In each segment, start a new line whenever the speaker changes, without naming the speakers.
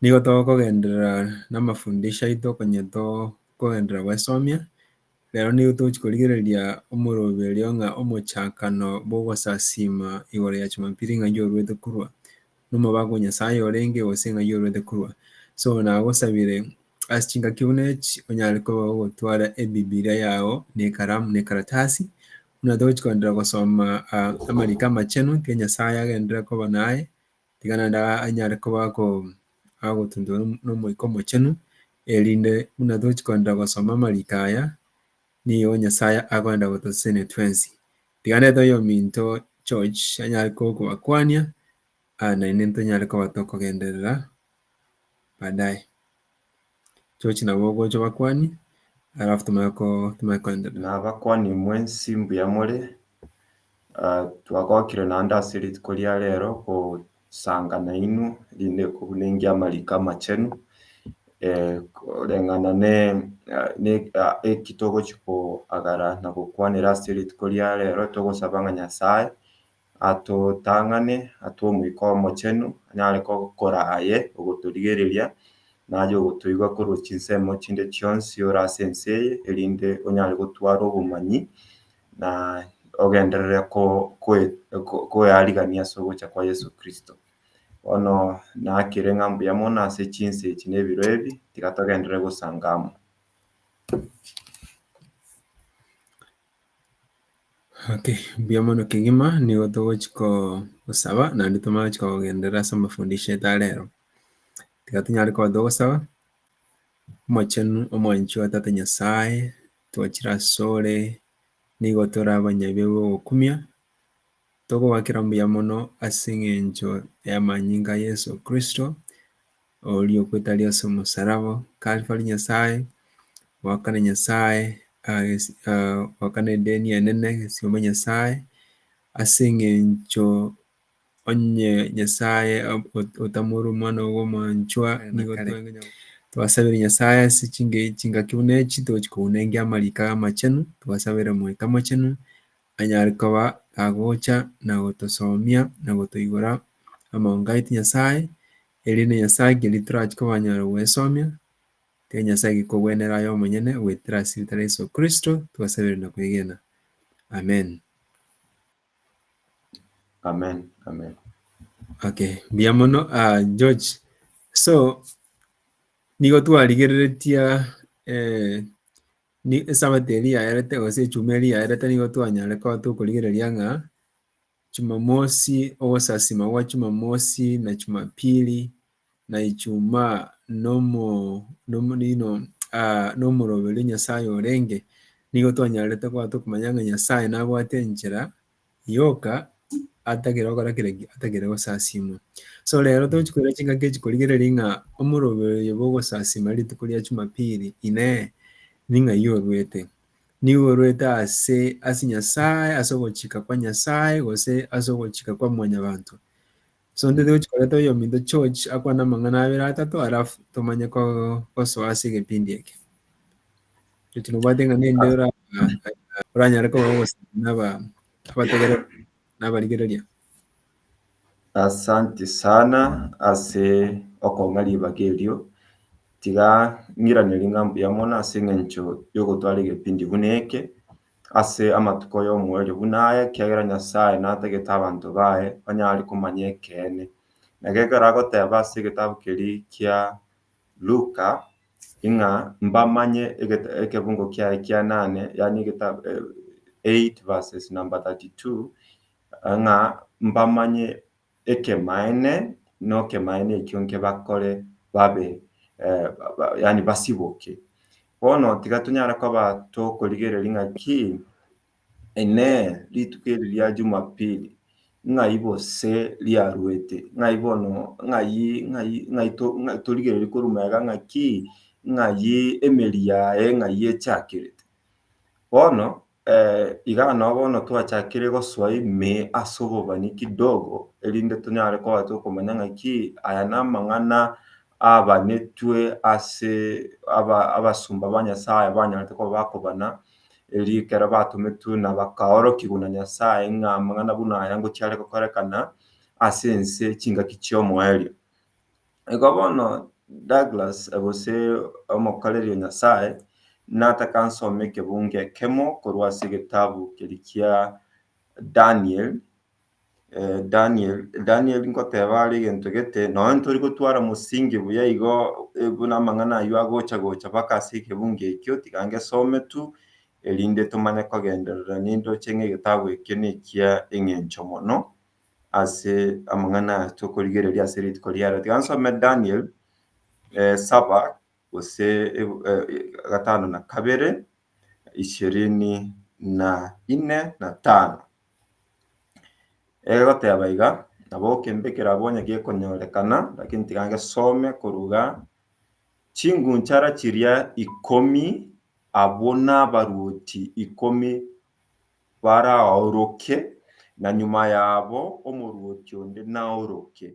Nigo togokogenderera namafundisho aito konye tokogenderera goesomia, rero nigo togochia korigereria omorobi oria ng'a omochakano bw'ogosasiima igoro ya Jumapili ng'ai orwete korwa nomobaaku o Nyasaye orenge gose ng'ai orwete korwa. So nagosabire ase chingaki buna echi onyare koba ogotwara ebibilia yago na ekaramu na ekaratasi buna togochia kogenderera gosoma amariko amachenu naki Nyasaye agenderere koba naye tiga naende anyare koba agotunturwa n'Omoika Omochenu, erinde buna tochi kogenda gosoma amariko aya, nigo Nyasae akogenda gotosesenia twensi. Tiga naende toiyo ominto George anyare kogokobakwania, naende ntonyare koba tokogenderera baadaye. George nabo ogocha obakwani alafu timanye ko- timanye koenderera. Na abakwani mwensi
mbuya more, ah, twagokire naende ase rituko ria rero gosanga nainwe, erinde kobunengia amariko amachenu, eh, koreng'ana ne- ne- ah, eki togochia koagara na gokwanera ase rituko ria rero, togosaba ng'a Nyasae atotang'ane, atwe Omoika Omochenu, anyare gokora aye ogotorigereria, na aye ogotoigwa korwa chinsemo chinde chionsi ore ase ense eye, erinde onyare gotwara obomanyi, na ogenderere koearigania ase ogocha kwa Yeso Kristo. Bono nakere ng'a mbuya mono ase chinsa echi na ebiro ebi, tiga togenderere gosanga amo.
Okay, mbuya mono kegima nigo togochia koo gosaba naende tomanye gochia kogenderera ase amafundisho aito a rero. Tiga tonyare koba togosaba, Omochenu, omwanchi o Tata Nyasae, twachiire asore, nigo tore abanyabiu b'ogokumia, Tokobakera mbuya mono ase engencho y'amanyinga a Yeso Kristo, oria okwetaria ase omosaraba, Kalvari, Nyasae, goakana Nyasae, goakana edeni enene, egesibaba Nyasae, ase engencho onye Nyasae otamore omwana oye omwanchwa, twasabera Nyasae ase chingaki buna echi, togochi kounengia amariko amachenu, twasabera Omoika Omochenu, anyare koba agocha na gotosomia na gotoigora amang'ango aye tinyasae, erinde Nyasae keria torachi kobanyare goesomia, kere Nyasae gekogwenere aye omonyene goetera ase egetare ria Yeso Kristo twasabire na kwegena. Amen.
Amen, amen. Okay,
mbuya mono ah, George. So, nigo twarigereretie eh, Ni esabato eria yaerete gose echuma eria yaerete nigo twanyare koba tokorigereria ng'a Jumamosi, ogosasima gwa Jumamosi na Jumapili na Ijumaa nomo nomo nino nomoroberi Nyasaye orenge. Nigo twanyarete koba tokomanya ng'a Nyasaye nabwate enchera Yoka atagere gokora kera ki? Atagere gosasiimwa. So rero tochi koira chingaki echi korigereria ng'a omorobe oyo bogosasiima rituko ria Jumapili, Inee, ning'a iga orwete? Nigo orwete ase ase Nyasae, ase ogochika kwa Nyasae, gose ase ogochika kwa mwanyabanto? So ntete gochi koreta oyominto George akwane amang'ana abere atato alafu tomanye ko gosoa ase egepindi eke. George nobwate ng'a ninde ora oranyare koba ogosaba naba abategere nabarigereria. Asanti
sana ase okong'a ribaga erio. Tiga ng'iraneri ng'a mbuya mono ase eng'encho yogotwara egepindi buna eke. ase amatuko y'omoerio buna aya, ekiagera Nyasae natagete abanto baye banyare komanya ekeene. Na gekero agoteba ase egetabu keria kia Luka, ing'a mbamanye ekebungo kiaye kia nane, yaani egetabu eight verses number thirty two, ng'a mbamanye. ekemaene nokemaene ekio nkebakore babe yaani basiboke. Bono tiga tonyare koba tokorigereria ng'aki inee rituko eri ria jumapili ng'ai gose riaruete ng'ai bono ng'ai ng'ai ng'ai torigereria korwa magega ng'aki ng'ai emeri yaye ng'ai echakete. Bono Igaa nao bono twachakire gosoa ime ase obobani kidogo erinde tonyare kobasa okomanya ng'aki aya namang'ana abanetwe ase abasomba ba Nyasaye abanyarete koba bakobana erio ekero batometwe na bakaorokigwa na Nyasaye ng'a amang'ana buna aya ngochare gokorekana ase ense chingaki chiomoerio. Igo bono Douglas gose omokoreri o Nyasae nataka nsome ekebungo ekemo korwa ase egetabu keri kia Daniel, Daniel, Daniel nkoteba are egento gete, nonya ntori gotwara mosinge buya igo buna amang'ana ayio agocha gocha mpaka ase ekebungo ekio, tiga ngesome tu erinde tomanye kogenderera naende oche ng'a egetabu ekio nekia eng'encho mono. ase amang'ana aya tokorigereria ase rituko riarero. Tiga nsome Daniel saba gose gatano na kabere, ishirini na ine na tano. Egoteba iga, Nabo okembe kerabwo onye gekonyorekana, lakini tiga ngesome korwa iga, Chingunchara chiria ikomi, abwo nabaruoti ikomi baraoroke, na nyuma yabo omorwoti onde naoroke,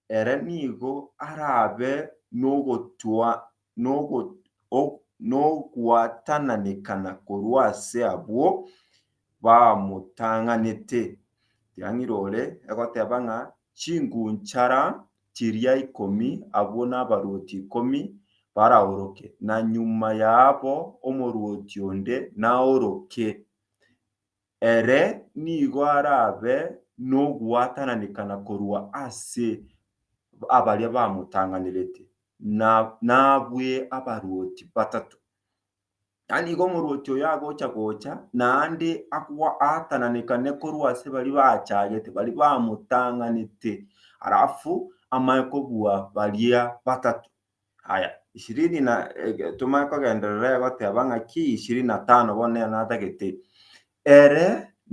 ere nigo arabe nogwatananekana korwa ase abwo bamotang'anete. Tiang'irore egoteba ng'a chingunchara chiria ikomi abwo nabaruoti ikomi baraoroke, na nyuma yabo omoruoti onde naoroke. Ere nigo arabe nogwatananekana korwa ase abaria bamotang'anerete, na nabue abaruoti batato. Na nigo omorwoti oyo agocha gocha, naende akoaatananekane korwa ase baria bachagete, baria bamotang'anete, alafu amanye kobua baria batato. Aya, ishirini na, eh, tomanye kogenderera egoteba ng'aki ishirini na tano bono nere natagete, Ere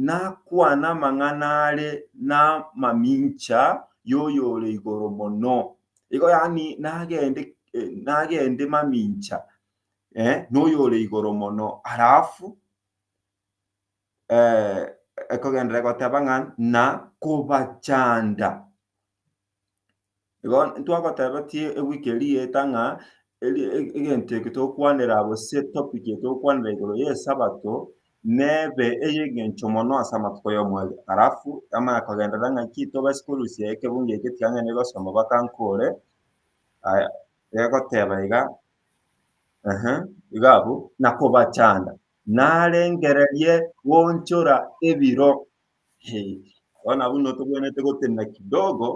nakwane amang'ana are namamincha y'Oyore Igoro Mono. Igo yaani nagende, eh, nagende mamincha. eh, noyore igoro mono alafu eh, ekogendera egoteba ng'a na kobachanda igo ntwagotebetie ewiki eria eeta ng'a eri- e- egento eke togokwanera gose topic eye togokwanera igoro y'esabato nebe ey'engencho mono ase amatuko y'omwezi alafu yamanya kogenderera ng'aki togasi korusia ekebungo eke tiga ngenire gosoma mpaka nkore aya egoteba iga iga abwo, na kobachanda, narengererie goonchora ebiro. Bono abwo notobwenerete gotenena kidogo,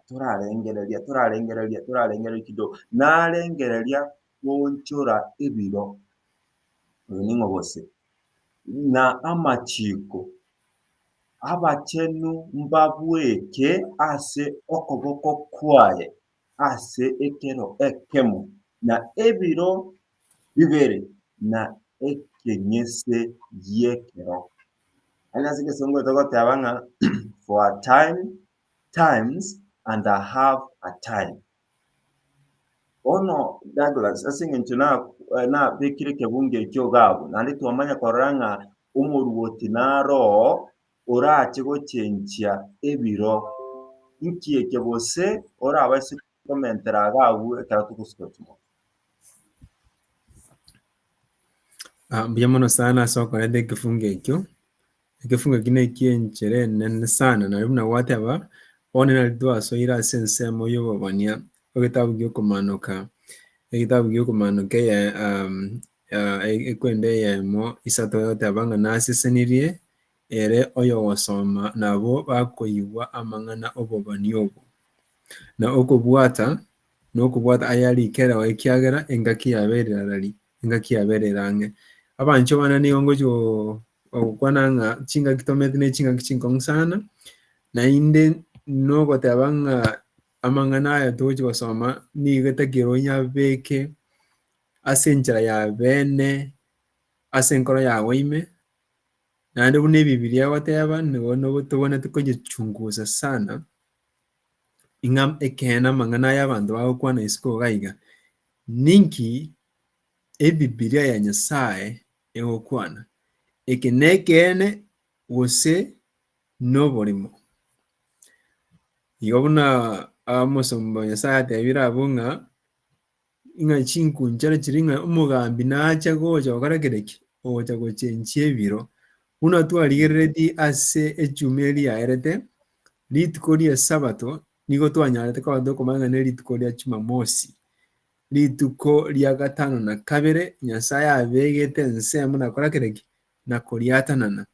torarengereria, torarengereria, torarengereria kidogo, narengereria goonchora ebiro, oyo ning'o gose? na amachiiko, abachenu mbabweke ase okoboko kwaye. ase ekero ekemo, na ebiro bibere, na ekenyese gi'ekero. Aye ase egesongo togoteba ng'a for a time, times, and a half a time. Bono Douglas ase eng'encho nabekire ekebungo ekio iga abwo, naende twamanya korora ng'a omoruoti naroo orache gochenchia ebiro? Inki eke gose orabaise komentera iga agwo ekero togosika chinguru?
Ah, mbuya mono sana ase okoreta ekefungo ekio ekefungo ekio neki enchere enene sana nari buna gwateba one nari twasoire ase ensemo y'obobania egetabu giokomanoka egetabu giokomanoka eye um, uh, ekwenda eyemo isato egoteba ng'a nasesenirie ere oyogosoma nabwo bakoigwa amang'ana 'obobani obo, na okobwata nokobwata ayarikereo ekiagera engaki yabo ere rarari, engaki yabo ere rang'e. Abanchwa bane nigo ngochia gokwana ng'a chingaki tomete ne chingaki chinkong'u sana, naende nogoteba ng'a amang'ana aya togochia gosoma nigo etakire onyabeke ase enchera ya bene ase enkoro yago ime, Naende buna Ebibilia egoteba nigo tobwenerete koyechungusa sana, ng'a ekeene amang'ana aya abanto bagokwana isiko iga iga, ninki Ebibilia ya Nyasae egokwana? Eke nekeene gose noborimo? Igo buna omosomba o Nyasae atebire abwo ng'a Ng'a chinku nchara chiri ng'a omogambi nacha gocha gokora kere ki? Ogocha gochenchia ebiro. Buna twarigereretie ase echumi eri yaerete, rituko ri'esabato nigo twanyaarete koba tokomanya ng'a nerituko ria Chumamosi, rituko ria gatano na kabere Nyasae abegete ensemo nakora kere ki? Nakoriatanana.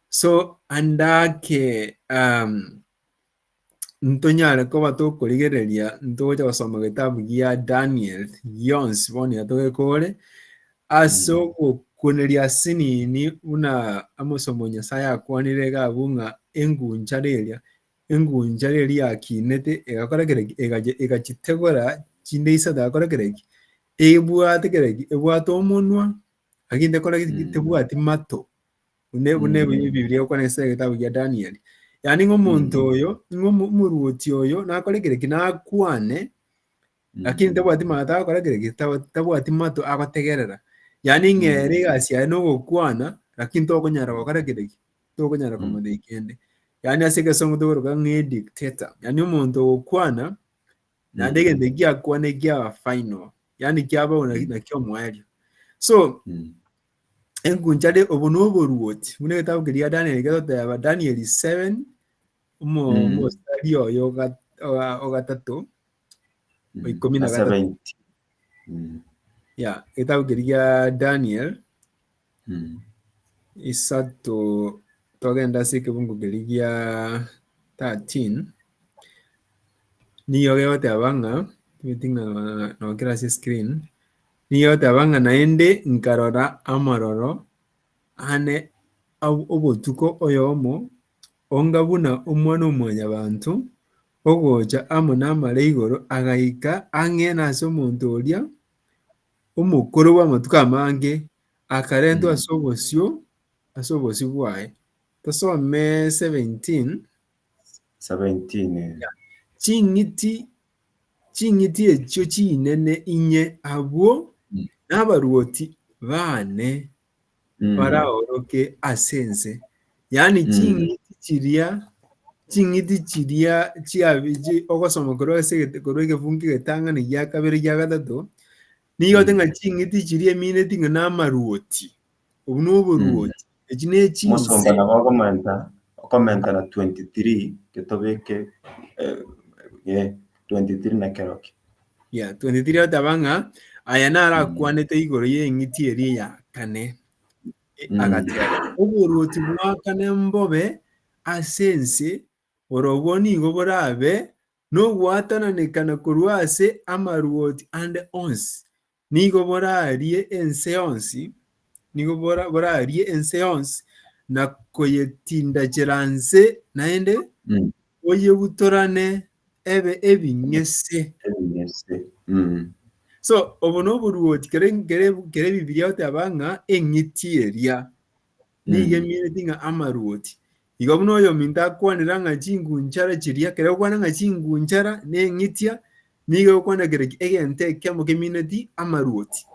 So, ande ake ntonyare koba tokorigereria ntogocha gosoma getabu gia Daniel gionsi bono yatogekore ase mm. ogokuneria sinini buna amosomo Nyasaye akwanire gabu ng'a engunchare eria engunchare eria yakinete egakora kereki egachitegora chinde isato agakora kereki ebwate kereki ebwate omonwa aginde kora mm. tebwati mato bune bune Mm. bi- bibilia okwana ase egetabu gia danieli yaani ng'a omonto Mm. oyo ng'a omo- omoruoti oyo nakore kereki nakwane Mm. lakini tabwati mato agokora kereki taba- tabwati mato agotegerera yaani Mm. ng'ere egasi yaye nogokwana lakini tokonyara gokora kereki tokonyara Mm. komothei kende yaani ase egesongo togoroka ng'a dictator yaani omonto ogokwana naende Mm. egento ekiakwane kiaba final yaani kiaba ona- Mm. nakio omoerio so Mm. enkunchare obo noboruoti buna egetabu keria Daniel getoteba Daniel 7 omo Mm. omosari oyo oga- oga- ogatato Mm. Ikumi na Ase gatatu. bainti. Mm. ya egetabu keria gia Daniel Mm. isato togenda ase ekebungo keria gia 13 nigo gegoteba ng'a timeti ng'a nokera ase screen Nigo oteba ng'a naende nkarora amororo ane ab- obotuko oyomo, onga buna Omwana-o-mwanyabanto ogocha amo namare igoro, agaika ang'e nase omonto oria omokoro bw'amatuko amange, akarentwa ase obosio ase obosio bwaye. Tosome 17. 17. Ching'iti Ching'iti echio chinene inye abwo nabaruoti baane Mm. baraoroke ase ense, yaani Mm. ching'iti chiria ching'iti chiria chiabi- chi- ogosoma korwa ase egete- korwa egefungu egetang'ani gia kabere gia gatato, nigo Mm. ote ng'a ching'iti chiria emineti ng'a namaruoti Obu noboruoti. Echi nechinse. Omosomba nabo okomenta
okomenta na 23 getobeke eh, eh, 23 na keroki Yeah,
23 ataba ng'a aya narakwanete igoro y'eng'iti eria ya kane. E, Mm. Agateba, oboruoti bwa kane mbobe ase ense, orobwo nigo borabe nogwatananekana korwa ase amaruoti ande onsi, Nigo borarie ense yonsi, nigo borarie ense yonsi na koyetindachera nse, naende boyebutorane ebe ebing'ese. Ebing'ese. Mm. So, obo noboruoti, kere, kere, kere Bibilia goteba ng'a eng'iti eria. Neigemineti ng'a amaruoti. Igo buna oyominto akwanera ng'a chingunchara chiria, kera okwana ng'a chingunchara neng'itia, nigo egokwana kere egento ekiamo kemineti amaruoti.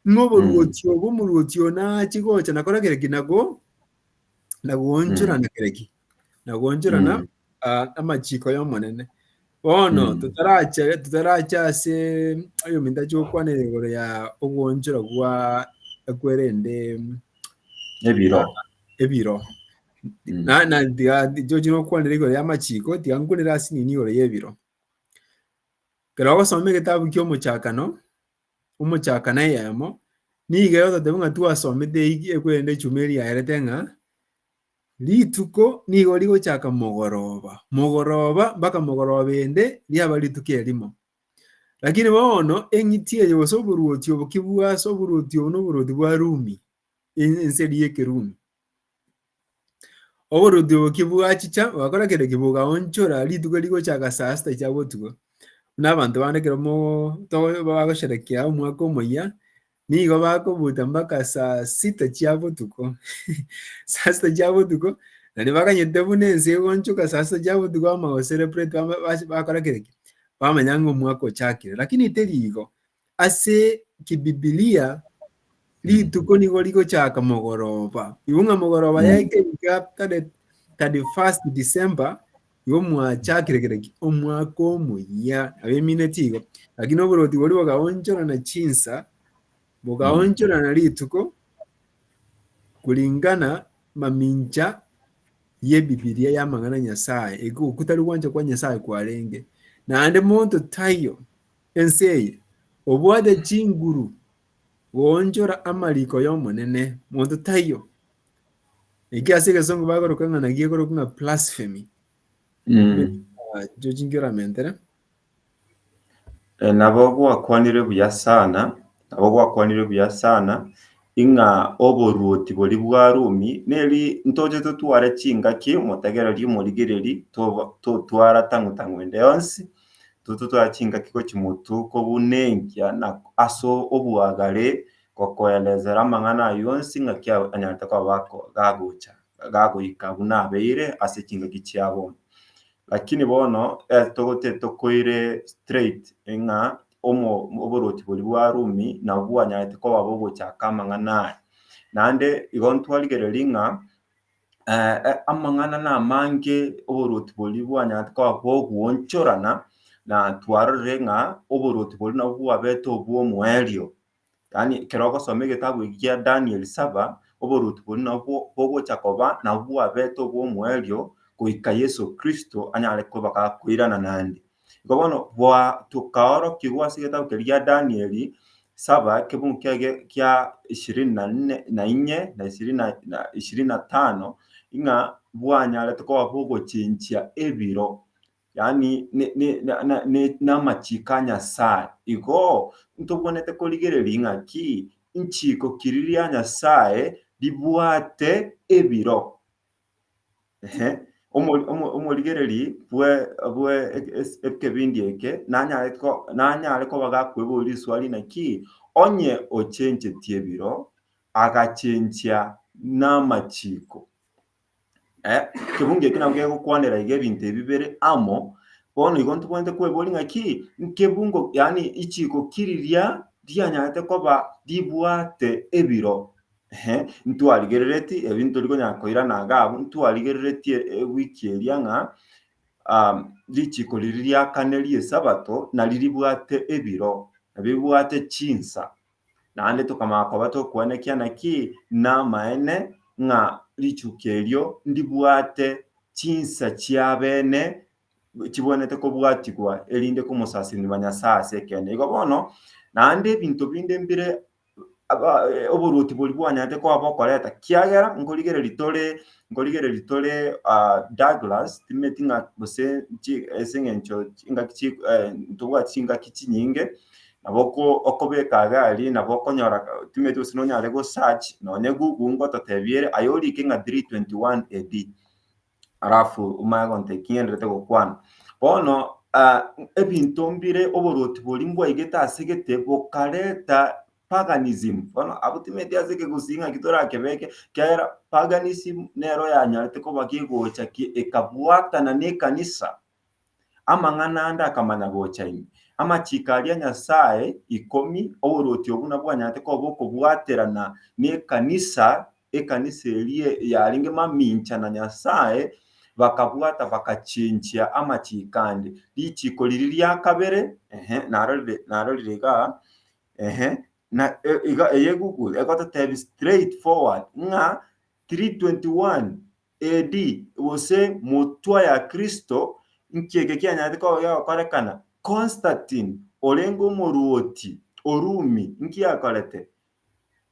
Ng'a oboruoti obo omoruoti oo naachie gocha nakora kere ki? Nago, nagoonchorana kere ki? Nagoonchorana Aa, amachiko y'Omonene. Bono Mm. totaracha totaracha ase oyominto ache gokwanera igoro ya ogwonchora gwa ekwerende Ebiro. ebiro Mm. na na tiga tichochi nokwanera igoro y'amachiko tiga nkwanere ase nini igoro y'ebiro kero ogosoma egetabu ki'omochakano omochakano eyemo nigo egototebia ng'a twasomete eyio ekwerende echumi eria yaerete ng'a Rituko nigo rigochaka mogoroba, mogoroba mpaka mogoroba ende riaba rituko erimo. Lakini bono eng'iti eye gose oboruoti obo kibwase, oboruoti obo noboruoti bwa Rumi, en- enseri y'Ekerumi. Oboruoti obo kibwachicha bwakora kende ki bogaonchora rituko rigochaka saa sita chia botuko. Buna abanto bande ekero mo- to- bagosherekea omwaka omoyia, Nigo bakobuta mpaka saa sita chia botuko. Saa sita chia botuko, na nibaganyete buna ense egonchoka saa sita chia botuko bamanya gocelebrate, bama- bas- bakora kera ki? Bamanya ng'a omwaka ochakire. Lakini teri igo. Ase kibibilia, rituko nigo rigochaka mogoroba. Igo ng'a mogoroba ya ekerika tare 31st December, Igo mwachakire kera ki omwaka omoyia, abemine tigo, lakini oboroti boria bokaonchorana chinsa, bokaonchorana rituko kuringana mamincha y'Ebibilia y'amang'ana a Nyasae, ego kotari gwancha kwa Nyasae kwarenge. Naende monto taiyo ense eye obwate chinguru goonchora amariko y'Omonene, monto taiyo. Eki ase egesongo bagoroka ng'a naki ekorokwa ng'a blasphemy. Mm. Ah, Icho chinki oramentere. Eh,
nabo gwakwanire buya sana nabo gwakwanire buya sana ing'a oboruoti bori bwa rumi neri ntoche totware chingaki motegereri omorigereri toba- totwara tang'u tang'u ende yonsi tototwara chingaki gochia motu kobuna engiya na ase obwagare gokoelezera amang'ana ayio onsi ng'aki anyarete koba gagocha gagoika buna abeire ase chingaki chiabo. Lakini bono tokoire straight ng'a oborwoti boria bwa Rumi nabwo bwanyarete koba bogochaka amang'ana aya. Naende igo ntwarigereiri ng'a amang'ana na amange oborwoti boria bwanyarete koba bogwochorana na twarorire ng'a oborwoti boria nabwo bwabete obwomoerio. Yaani ekero ogosoma egetabu eki gia Daniel saba, oboruoti boria nabwo bogocha koba nabwo bwabete obwomoerio goika Yeso Kristo anyare koba gakoirana naende. Igo bono gwa tokaorokigwa ase egetabu keria gia Daniel saba ekebugu kiaye kia ishirini na nne na inye na ishirini na na ishirini na tano ng'a bwanyaretwe koba bogochinchia ebiro yaani n'amachiko a Nyasae. Igo ntobwenerete korigereria ng'aki nchiko kiri ria Nyasae ribwate ebiro. Omorigereri bw'ekebindi eke nanyare koba gakweboria riswali naki onye ochenchetie ebiro agachenchia n'amachiko. Eh, ekebungo eke nabwo gegokwanera iga ebinto ebi bire amo. Bono igo ntobwenerete kweboria ng'aki nkebungo, yaani ichiiko ki riria rianyarete koba ribwate ebiro? Ehe, ntwarigerereti, ebi ntori konyara koirana iga abwo, ntwarigerereti e- ewiki eria ng'a um, richiiko riria riakanerie Esabato nari ribwate ebiro, nari ribwate chinsa. Naende tokamanya koba tokwanekia naki namaene ng'a richuko erio ndibwate chinsa chi'abene chibwenerete kobwatigwa, erinde komosasirimia Nyasae ase ekeene. Igo bono, naende ebinto binde mbire oboruoti boria bwanyaarete koba bokoreta, kiagera nkorigereria tore, nkorigereria tore Douglas, timanyeti ng'a gose ase eng'encho chingaki chiri, ntobwati chingaki chinyinge. Nabo okobeka agari nabo okonyora otimetie gose nonyare go search nonye google ngototebiere aye orike ng'a 321 AD alafu omanye gontebi ki ngenderete gokwana. Bono ebinto mbire oborwoti boria mbwaigete ase gete bokareta paganism bono abwo timeeti ase ekegusii ng'aki torakebeke ekiagera paganism nero yanyarete koba kegocha ekabwatana nekanisa Amang'ana ande akamanya gocha ime. Amachiiko aria a Nyasae ikomi, oboruoti obwo nabwo bwanyareteke koba okobwaterana nekanisa, ekanisa eria yarenge mamincha na Nyasae, bakabwata bakachinchia amachiiko ande. Richiiko riria ria kabere, ehe, narorire narorire iga, ehe, na iga eye Google egototebia straight forward ng'a 3:21 AD, gose motwa ya Kristo, inki eke kianyaretire koba gegokorekana? Constantine, orenge omorwoti o Rumi, inki akorete?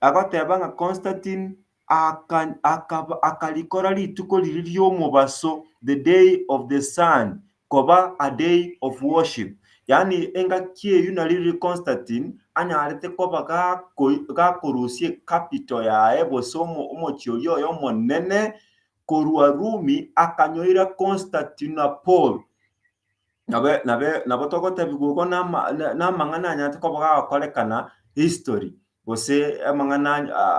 Agoteba ng'a Constantine akarikora rituko riria ri'omobaso, the day of the sun, koba a day of worship, yaani engaki eyio nari riria Constantine anyarete koba gakorusia ecapital yaye gose omochie oria oye omonene korwa Rumi akanyoira Constantinople. Nabo togotebiwa igo namang'ana anyarete koba gagokorekana history gose amang'ana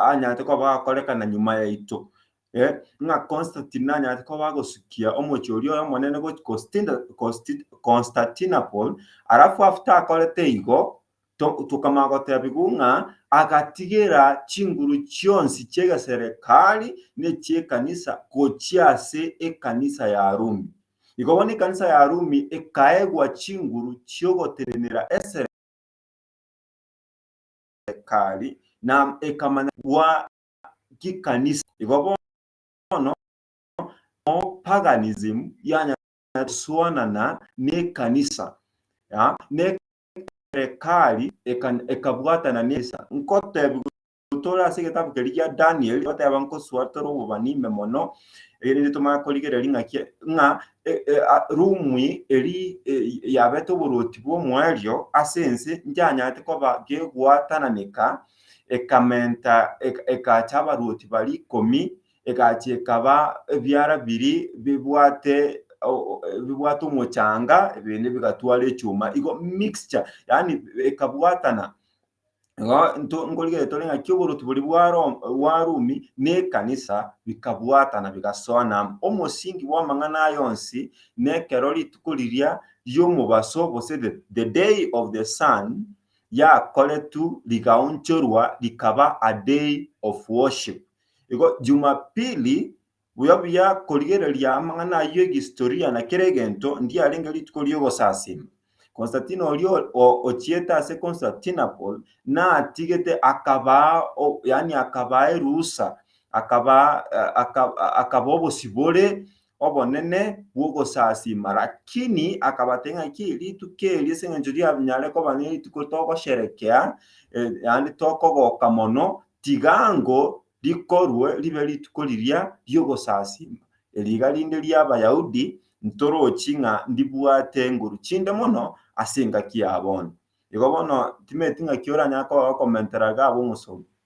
anyarete koba gagokorekana nyuma yaito. Eh, ng'a Constantine nanyarete koba agosukia omochie oria oyomonene gochia Constina- Consti- Constantinople, alafu after akorete igo, to- tokamanya gotebigwa ng'a agatigera chinguru chionsi chi'egeserekari na echi'ekanisa gochia ase ekanisa ya Rumi. Igo bono ekanisa ya Rumi ekaegwa chinguru chi'ogotenenera eserekari na ekamanya gwa chikanisa. Igo bono amo paganism yanya gosuanana nekanisa, ne serekari ekabwatana nekanisa. Nkotebigwa tore ase egetabu keria gia Daniel, goteba nkosua tore obobani ime mono, erinde tomanye korigereria ng'aki ng'a Rumi eri yabete oborwoti bw'omoerio ase ense, nchanyarete koba gegwatananeka ekamenta, eka, ekaacha abarwoti baria ikomi, egachia ekaba ebiara biria bibwate o- o- bibwate omochanga, ebinde bigatwara echuma, igo mixture, yaani ekabwatana. Igo nto nkorigereria tore ng'a kioborotu boria bwa Roma, bwa Rumi, na ekanisa bikabwatana bigasoana amo. Omosingi bw'amang'ana aya onsi, nekero rituko riria ri'omobaso, gose the, the day of the sun, yakoretu rigaonchorwa rikaba a day of worship. Igo Jumapili, buya buya korigereria amang'ana ayio egihistoria na kera egento, ndiarenge rituko ri'ogosasima. Constantine oria ochiete ase Constantinople natigete akabaa yaani akabaa eruhusa akabaa akabaa obosibore obonene bw'ogosasiima, lakini akabatebia ng'aki, Rituko eri ase engencho rianyare koba nerituko togosherekea, naende tokogoka mono, tigango rikorwe ribe rituko riria ri'ogosasiima. Eri iga rinde ri'Abayahudi ntorochi ng'a ndibwate engoru chinde mono ase engaki ya bono. Igo bono timanyeti ng'aki oranyare koba gokomentera iga ab'omosunte.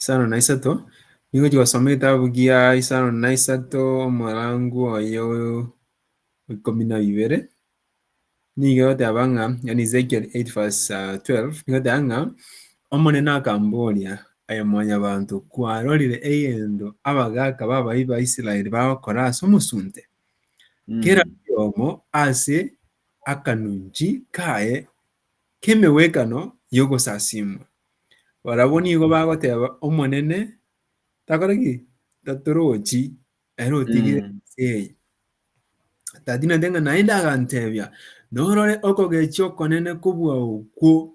Isano na isato, nigo chigosoma egetabu gia isano na isato omorango oye o ikomi na ibere, nigo egoteba ng'a, yaani Ezekiel 8 verse ah, 12, nigo egoteba ng'a, Omonene akamboria, Aye mwanyabanto, kwarorire egento abagaaka b'abayi ba Israeli bagokora ase omosunte? Kera oyomo ase akanunchi kaye k'emegwekano y'ogosasimwa. Barabwo nigo bagoteba, Omonene takore ki? Tatorochi, ere otigire Mm. ense eye. Tatinete ng'a naende agantebia, Norore okogechia okonene kobua okwo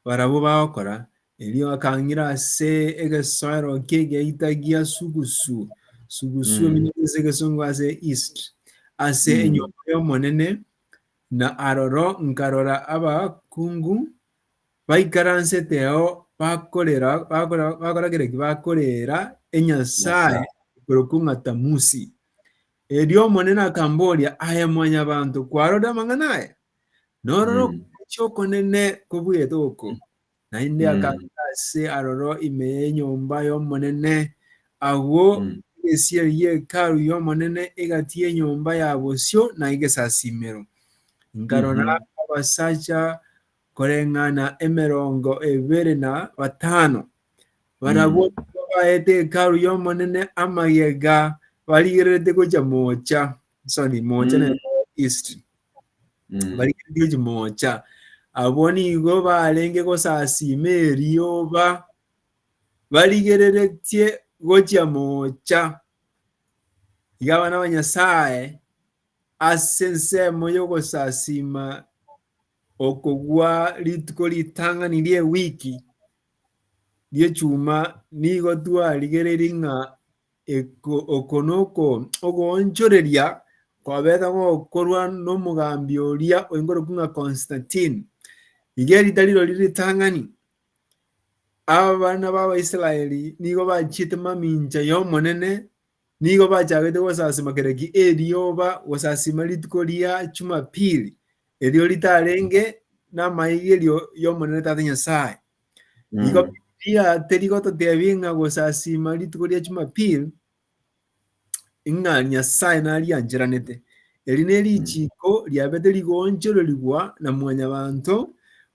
barabwo bagokora. Erio akang'ira ase egesoero ki'egeita gia Sugusu, Sugusu Mm. eminyago ase egesongo ase East, ase Mm. enyomba y'Omonene, Na aroro nkarora abakungu baikaransete ao bakorera, bakora, bakora kera ki? Bakorera enyasae korokwa ng'a Tamusi. Erio Omonene akamboria, Aye mwanyabanto, kwarorire amang'ana aya? Nororo Mm. okochi okonene kobwete oko, Naende akagenda ase aroro ime y'enyomba y'Omonene. Agwo egesieri gie Hekalu y'Omonene egati y'enyomba ya bosio na egesasiimero. Nkarora abasacha koreng'ana emerongo ebere na batano. Barabwo nigo baete Hekalu y'Omonene amagega barigererete gocha moocha. so ni mocha ne history Mm. barigeretie chimocha abwo nigo barenge gosasima erioba barigereretie gochia mocha iga abana ba nyasaye ase ensemo y'ogosasima okogwa rituko ritang'ani ri'ewiki ri'echuma nigo twarigereiri ng'a Oko noko ogoonchoreria kwabete gokorwa nomogambi oria oigorokwa ng'a Constantine. Iga erita rirorio ritang'ani. Abana b'Abaisraeli nigo bachiete mamincha y'Omonene, nigo bachagete gosasima kera ki erioba, gosasima rituko ria Chumapili, erio ritarenge namaigerio y'Omonene Tata Nyasae. Igo Mm. Biblia terigototeebia ng'a gosasiima rituko ria Jumapili ng'a Nyasae nariancheranete. Eri nerichiiko riabete rigoonchororigwa na mwanyabanto,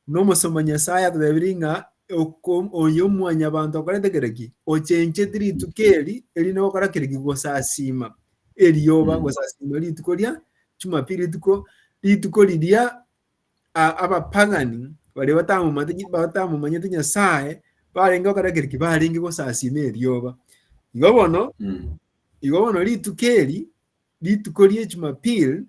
na omosomba Nyasae atotebirie ng'a oko- oyo mwanyabanto okorete kera ki? Ochencheti rituko eri erinde gokora kera ki? Gosasiima erioba, Mm. gosasiima rituko ria Jumapili, rituko rituko riria abapagani baria batamomanyete Nyasae barenge bakora kereki barenge gosasima erioba. Igo bono mm. igo bono rituko eri rituko rie Jumapili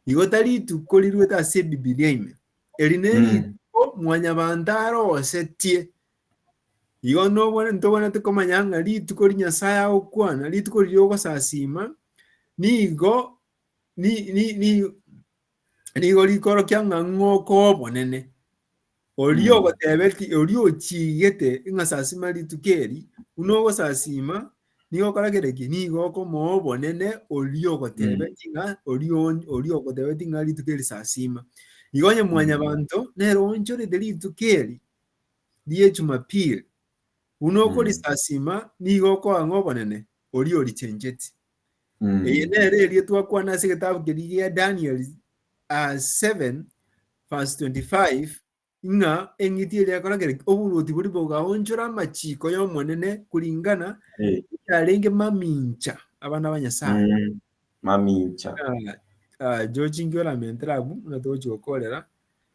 igo tari rituko riruete ase Bibilia ime eri ne mm. rituko mm. mwanyabanto arosetie igo nobone ntobonete komanya ng'a rituko ri Nyasae agokwana rituko riria ogosasima nigo ni, ni, ni, nigo rikorokia ng'a ng'oka obonene. Oria Mm. ogotebeti, oria ochigete ng'a sasima rituko eri, buna ogosasima, nigo okora kere ki, nigo okomoa obonene oria ogotebeti ng'a, oria on- oria ogotebeti ng'a rituko eri sasima. Igo onye mwanyabanto nere oonchorete rituko eri rie Jumapili, buna okorisasima, nigo okoa ng'a obonene oria orichencheti. Eye Mm. nere erio twakwana ase egetabu keria gia Daniel ah, 7 verse 25 ng'a eng'iti eria yakorakera ki? oboruoti bori bogaonchora amachiko y'Omonene koringana Eh, yarenge mamincha abana ba Nyasae. mm. Mamincha.
Ah, ah,
George inki oramentere abwo buna togochi gokorera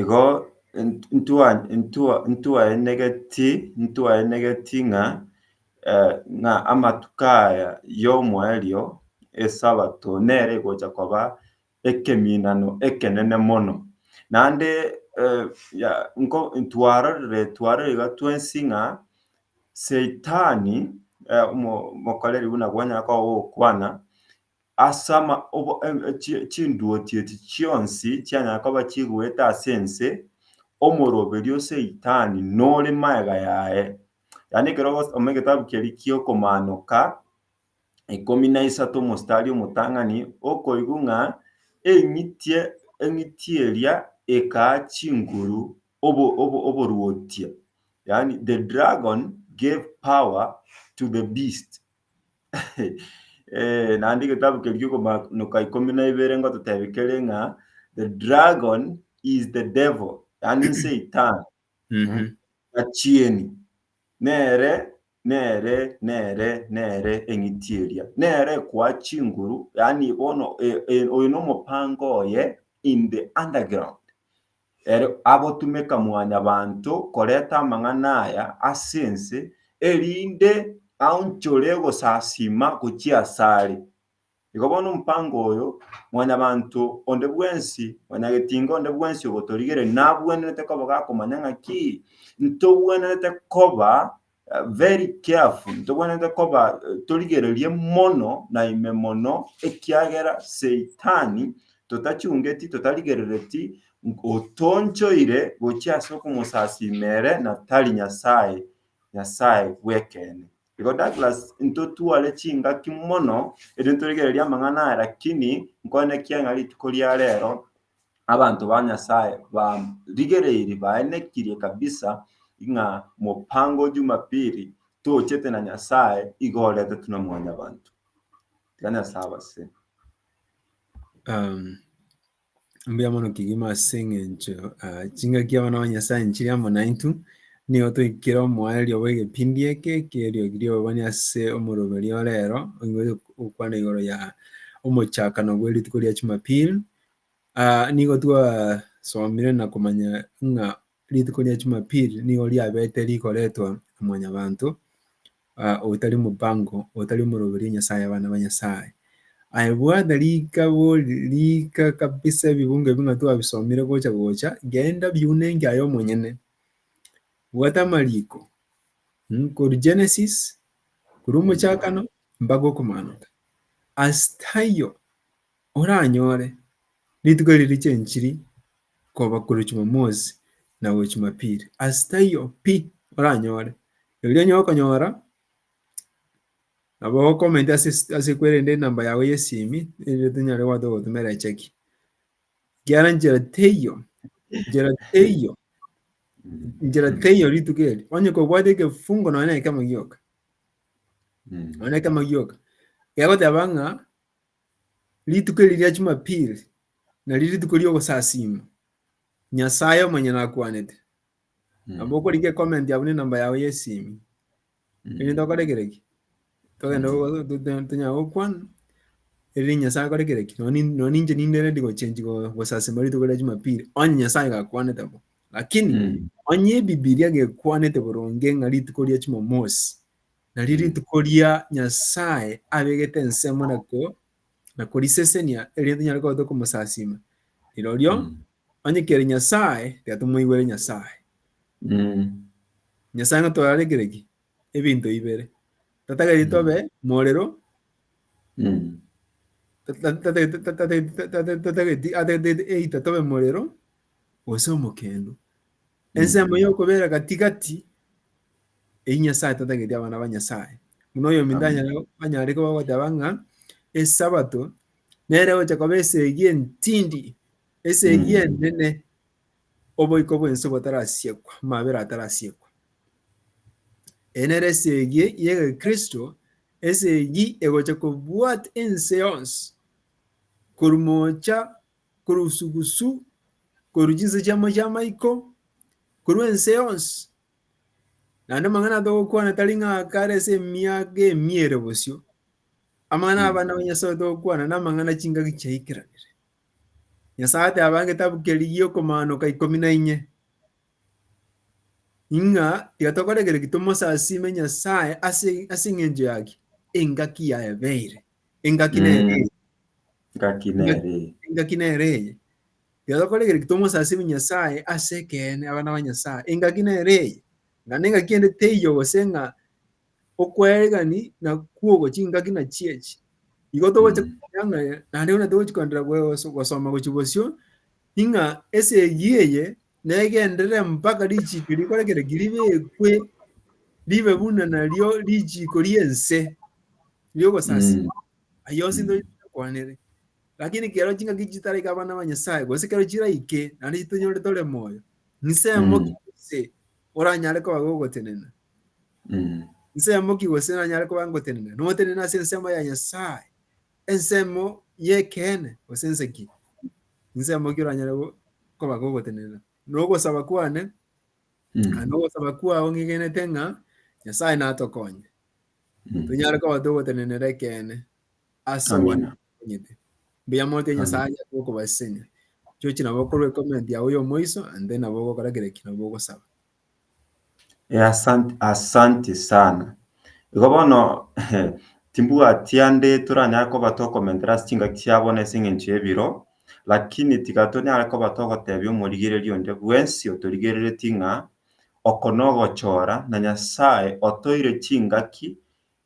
Igo
ntwaenegeti ng'a amatuko aya y'omoerio, Esabato, nere egocha koba ekeminano ekenene mono. Naende twarorire iga twensi ng'a Saitani, omokoreri buna kwanyara koba ogokwana, Ase ama, obo, em, chi, chinduo chiaito chionsi chianyare koba chigoeta ase ense, omoroberio Saitani nore magega yaye. Yaani ekero ogosoma egetabu keria ki'okomanoka ikomi na isato omostari omotang'ani, okoigwa ng'a eng'itie, eng'itie eria ekaa chinguru obo, obo, oboruotia. Yaani the dragon gave power to the beast. Eh, naende egetabu keria Okomaanoka ikomi na ibere ngototebia kere ng'a the dragon is the devil, yaani Satan Mhm. achieni nere nere nere nere eng'iti eria nere ekoa chinguru yaani bono e- e- oyo nomopango oye in the underground Ere agotumeka Mwanyabaanto koreta amang'ana aya ase ense, erinde aonchore ogosasiima gochia asare. Igo bono omopango oyo, Mwanyabaanto onde bwensi, Mwanyagetinga onde bwensi ogotorigereria nabwenerete koba gakomanya ng'a ki? Ntogwenerete koba very careful, ntobwenerete koba eh, torigererie mono na ime mono, ekiagera Seitani totachungeti, totarigerereti, otonchoire gochia ase okomosasima ere na tari Nyasae, Nyasae bw'ekeene. Igo Douglas ntotware chingaki mono, erio ntorigererie amang'ana aya, lakini nkoenekia ng'a rituko ria rero abanto ba Nyasae barigereiri baenekirie kabisa ng'a mopango o Jumapili tochete na Nyasae igo oretetwe na Mwanyabanto. Tiga Nyasae abase. Um,
mbuya mono kigima ase eng'encho ah, chingaki abana ba nyasaye nchiri amo naintu nigo toikire omoerio bwa egepindi eke ekerio riobani ase omoroberi orero oigo okwana igoro ya omochakano bwe rituko ria chumapili Ah, nigo twasomire na komanya ng'a rituko ria Jumapili nigo riabete rigoretwa omwanyabanto ah, otari omobango, otari omoroberi o Nyasaye abana ba Nyasaye. Aye bwana rikabo rika kabisa ebibungo ebi ng'a twabisomire gocha gocha, genda biunenge aye omonyene. Bwata amariko, mm, koru Genesis, koru omochakano, mpaka okomanota. Ase taiyo, Oranyore rituko eri richia enchiri koba korwa Jumamosi na gochia Jumapili. Ase taiyo pi oranyore, erio onye okonyora nabo okomenti ase kwerende enamba yago y'esimi erinde tonyare goeta gogotumera echeki. Ekiagera nchera teiyo, nchera teiyo, nchera teiyo rituko eri. Onye kobwate ekefungo nonya na ekemo gioka, nonya na ekemo gioka, egegoteba ng'a Rituko eri ria Chumapili nario rituko ri'ogosasiima Nyasae omonyene akwanete. Nabo okorika ecomment abune enamba yao y'esimi. Erinde okore kere ki? Togende go- to- to- tonyare gokwana erinde Nyasae akore kere ki? Nonye nin- nonye ninche ninde ready gochenchi go- gosasiima rituko ria Chumapili onye Nyasae gakwanete bo. Lakini onye ebibilia gekwanete boronge ng'a rituko ria Chumamosi. Nario rituko ria Nyasae abegete ensemo na korisesenia, erinde tonyare kobata komosasima, rirorio onye kere Nyasae, tiga tomoigwere Nyasae. Nyasae natorarekire ki? Ebinto ibere. Tatagetie tobe morero, atagete either tobe morero gose omokendo. Ensemo y'okobera gati-gati eyio Nyasae tatageti abana ba Nyasae. Buna oyominto Amen. anyare anyare koba goteba ng'a Esabato nere egocha koba esegi entindi, esegi Mm. enene, oboiko bw'ense botarasiekwa, amabera atarasiekwa. Eye nere esegi y'Egekristo, esegi egocha kobwata ense yonsi korwa mocha korwa usugusu, korwa chinse chiamo chi'amaiko, korwa ense yonsi. Naende amang'ana atogokwana tari ng'a kare ase emiaka emia ere bosio. Amang'ana Mm. abana ba Nyasae togokwana namang'ana chingaki chiaikeranire. Nyasae ateba egetabu keria giokomaanoka ikomi na inye, ing'a tiga tokore ekero ki tomosasime Nyasae ase ase eng'encho yaki engaki yaebeire. Engaki Mm. nere eye. Ngaki nere eye. engaki nere eye. Iga tokore ekero tomosasimie Nyasae ase ekeene abana ba Nyasae, engaki nere eye. Ng'a na engaki ende teiyo gose ng'a okwaeregani na kwogo chingaki na chiechi. Igo togocha Mm. komanya ng'a naende buna togochi koenderera goso- gosoma gochi bosio, ing'a esegi eye negenderere mpaka richiko rikore kere ki ribekwe ribe buna nario richiko ri'ense ri'ogosasima. Mm. Ayio onsi ntonya toyakwanere. Lakini kero chingaki chitaraika abana ba Nyasae, gose kero chiraike, naende chitonyore tore moyo, nsemo Mm. ki gose oranyare koba gogotenena? Mm. Nsemo ki gose nanyare koba ngotenena? Notenena ase ensemo ya Nyasae, ensemo y'ekeene, gose nse ki? Nsemo ki oranyare go- koba gogotenena? Nogosaba kwane, Mm. na nogosaba kwao ng'igenete ng'a Nyasae natokonye. tonyare koba togotenenera ekeene ase Amina. obwanyiti. Mbuya mote Amina. Nyasae aye gokobasesenia. Chochi nabo okorwa ecomment yago ya omoiso and then nabo ogokora kera eki nabo ogosaba. Eh, asante,
asante sana. Igo bono timbwati ande toranyare koba tokomentera ase chingaki chiabo na ase eng'encho y'ebiro, lakini tiga tonyare koba togotebia omorigereria onde bwensi otorigereretie ng'a Oko nogochora, na Nyasae otoire chingaki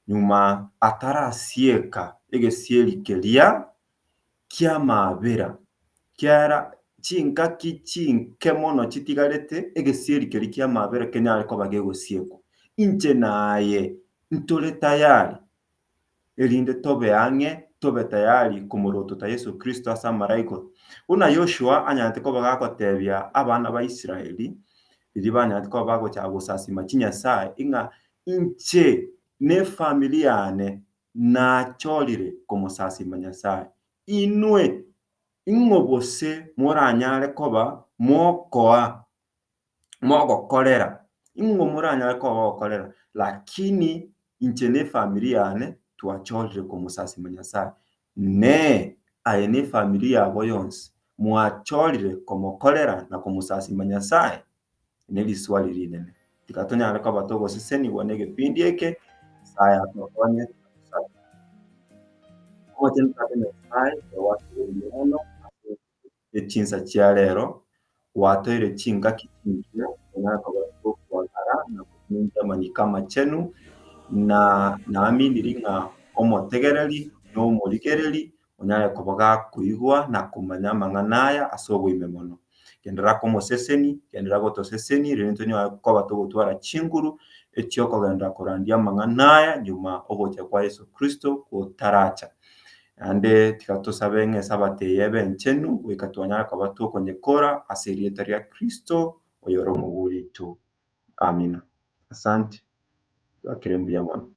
nyuma atarasieka egesieri keria ki'amabera. Kiara chingaki chinke mono chitigarete, egesieri keria ki'amabera kenyare koba gegosiekwa. Inche naye ntore tayari. erinde tobe ang'e tobe tayari komorotota Yeso Kristo ase amaraiko. Buna Yoshua anyanete koba gakotebia abana ba Israeli, riria banyanete koba bagochaka gosasima chinyasae, ing'a inche ne efamiri yane nachorire komosasima Nyasae. Inwe, ing'o bose moranyare koba mokoa mogokorera, ing'o moranyare koba gokorera? Lakini inche na efamiri yane twachorire komosasima Nyasae. Inee! Aye na efamiri yabo yonsi mwachorire komokorera na komosasima Nyasae? Neriswali rinene. Tiga tonyare koba togosesenigwa negepindi eke, Nyasae atokonye. Omochenu Tata Nyasae, togwasubegete mono ase. e chinsa chia reero, gwatoire chingaki chingiya, nonya nokoba kw'okwang'ara, na gomincha amanyiko amachenu, na naminiri ng'a omotegereri nomorigereri onyare koba gakoigwa na komanya amang'ana aya ase oboime mono. Genderera komoseseni, genderera gotoseseni, rirorio tonyare koba togotwara chinguru echiokogenda korandia amang'ana aya nyuma ogocha kwa Yeso Kristo gotaracha. Naende tiga tosabe ng'a Esabato eye ebe enchenu, goika twanyare koba tokonyekora ase erieta ria Kristo, oyore omouga oito. Amina. Asante. Twakire mbuya mono.